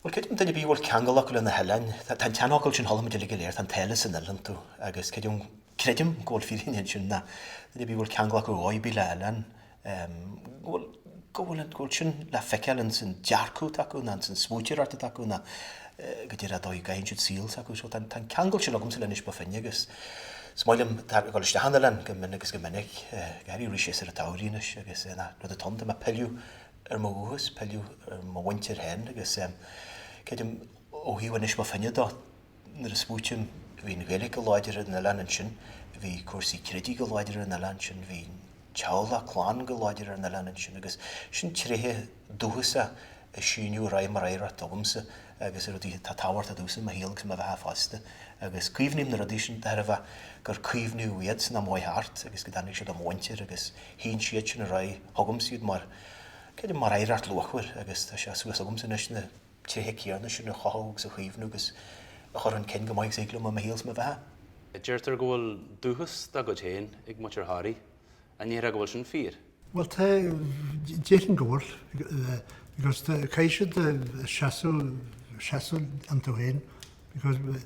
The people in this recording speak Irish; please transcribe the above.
Bhuel, creidim duine ar bith a bhfuil ceangal acu leis na hoileáin, tá an seanfhocal sin, chuala muid uilig go léir, tá an t-oileán san oileánach. Agus creidim, creidim go bhfuil fírinne ansin, ná duine ar bith a bhfuil ceangal acu ar dhóigh ar bith le hoileáin, bhuel, go bhfuil an, go bhfuil sin le feiceáil in san dearcadh atá acu, nó in san smaointeoireacht atá acu, nó go díreach an dóigh a gcaitheann siad saol s'acu. So, tá an, tá an ceangal sin agamsa le Inis Bó Finne agus is maith liom tá dul isteach chun an oileáin go minic agus go minic, go háirithe arís ar an tsamhraidh anois agus na rud atá ann, tá mé ag pilleadh ar mo dhúchas, pilleadh ar mo mhuintir féin agus creidim ó thaobh Inis Bó Finne dó, nuair a smaoitím, bhí an Ghaeilge go láidir ar an oileán ansin, bhí cúrsaí creidimh go láidir ar an oileán ansin, bhí teaghlach, clann go láidir ar an oileán ansin agus sin tréithe dúchasacha a síneadh ar aghaidh mar oidhreacht agamsa agus i rudaí atá tábhachtach domhsa i mo shaol agus i mo bheatha fosta agus caomhnaím na rudaí sin de thairbhe gur caomhnaíodh iad san am a chuaigh thart agus go dtáinig siad ó mo mhuintir agus shín siad sin ar aghaidh chugamsa iad mar, creidim, mar oidhreacht luachmhar agus tá sé suas agamsa anois na tréithe céanna sin a chothú agus a chaomhnú agus a chur chun cinn chomh maith agus a thig liom i mo shaol is mo bheatha. Deirtear go bhfuil dúchas dá gcuid féin ag muintir Thoraí, an ndéarfá go bhfuil sin fíor? Bhuel, tá, déarfainn go bhfuil because caithfidh siad seasamh, seasamh iontu féin because